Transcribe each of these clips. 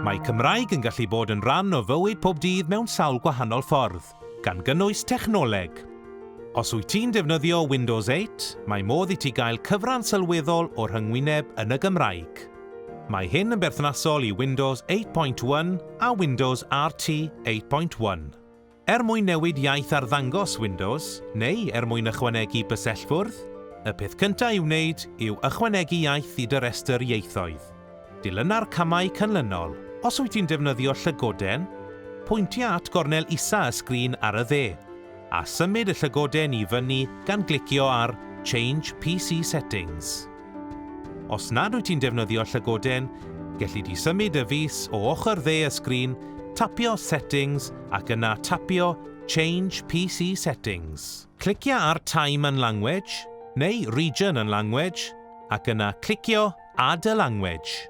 Mae Cymraeg yn gallu bod yn rhan o fywyd pob dydd mewn sawl gwahanol ffordd, gan gynnwys technoleg. Os wyt ti'n defnyddio Windows 8, mae modd i ti gael cyfran sylweddol o rhyngwyneb yn y Gymraeg. Mae hyn yn berthnasol i Windows 8.1 a Windows RT 8.1. Er mwyn newid iaith arddangos Windows, neu er mwyn ychwanegu bysellfwrdd, y peth cyntaf i'w wneud yw ychwanegu iaith i dy restr ieithoedd. Dilyna'r camau canlynol. Os wyt ti'n defnyddio llygoden, pwyntia at gornel isa y sgrin ar y dde, a symud y llygoden i fyny gan glicio ar Change PC Settings. Os nad wyt ti'n defnyddio llygoden, gelli di symud y fys o ochr dde y sgrin, tapio Settings ac yna tapio Change PC Settings. Clicia ar Time and Language, neu Region and Language, ac yna clicio Add a Language.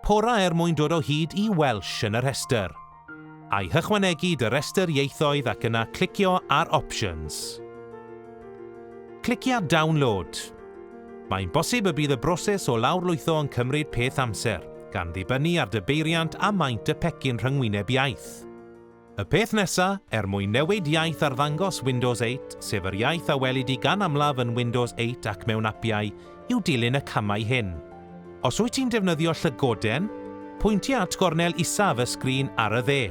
Pora er mwyn dod o hyd i Welsh yn y rhestr. I hychwanegu dy restr ieithoedd ac yna clicio ar Options. Clicia Download. Mae'n bosib y bydd y broses o lawrlwytho yn cymryd peth amser, gan ddibynnu ar dy beiriant a maint y pecyn rhyngwyneb iaith. Y peth nesa, er mwyn newid iaith arddangos Windows 8, sef yr iaith a welid di gan amlaf yn Windows 8 ac mewn apiau, yw dilyn y camau hyn. Os wyt ti'n defnyddio llygoden, pwyntia at gornel isaf y sgrin ar y dde.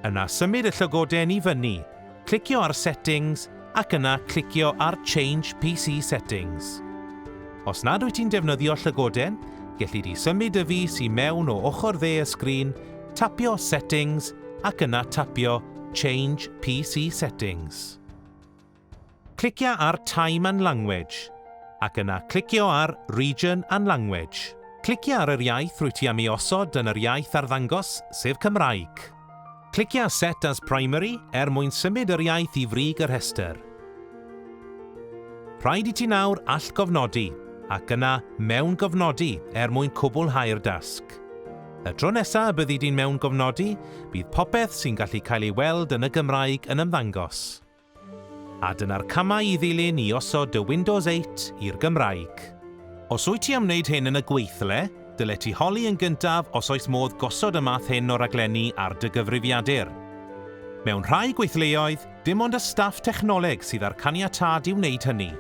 Yna symud y llygoden i fyny, clicio ar Settings ac yna clicio ar Change PC Settings. Os nad wyt ti'n defnyddio llygoden, gelli di symud y fus i mewn o ochr dde y sgrin, tapio Settings ac yna tapio Change PC Settings. Clicia ar Time and Language, ac yna clicio ar Region and Language. Clicia ar yr iaith rwyt ti am ei osod yn yr iaith arddangos, sef Cymraeg. Clicia Set as Primary er mwyn symud yr iaith i frig y rhestr. Rhaid i ti nawr allgofnodi, ac yna Mewngofnodi er mwyn cwblhau'r dasg. Y tro nesaf y byddi di'n mewngofnodi, bydd popeth sy'n gallu cael ei weld yn y Gymraeg yn ymddangos. A dyna'r camau i ddilyn i osod dy Windows 8 i'r Gymraeg. Os wyt ti am wneud hyn yn y gweithle, dyle ti holi yn gyntaf os oes modd gosod y math hyn o raglenni ar dy gyfrifiadur. Mewn rhai gweithleoedd, dim ond y staff technoleg sydd â'r caniatâd i wneud hynny.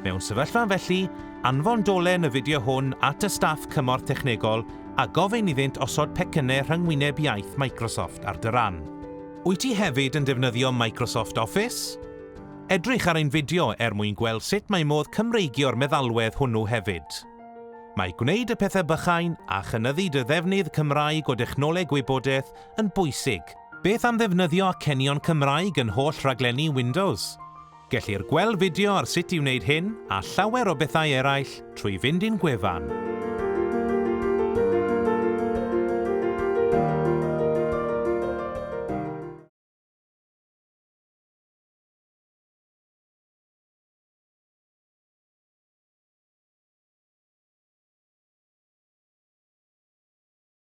Mewn sefyllfa felly, anfon dolen y fideo hwn at y staff cymorth technegol a gofyn iddynt osod pecynnau rhyngwyneb iaith Microsoft ar dy ran. Wyt ti hefyd yn defnyddio Microsoft Office? Edrych ar ein fideo er mwyn gweld sut mae modd Cymreigio'r meddalwedd hwnnw hefyd. Mae gwneud y pethau bychain a chynyddu dy ddefnydd Cymraeg o dechnoleg wybodaeth yn bwysig. Beth am ddefnyddio acenion Cymraeg yn holl rhaglenni Windows? Gellir gweld fideo ar sut i wneud hyn a llawer o bethau eraill trwy fynd i'n gwefan.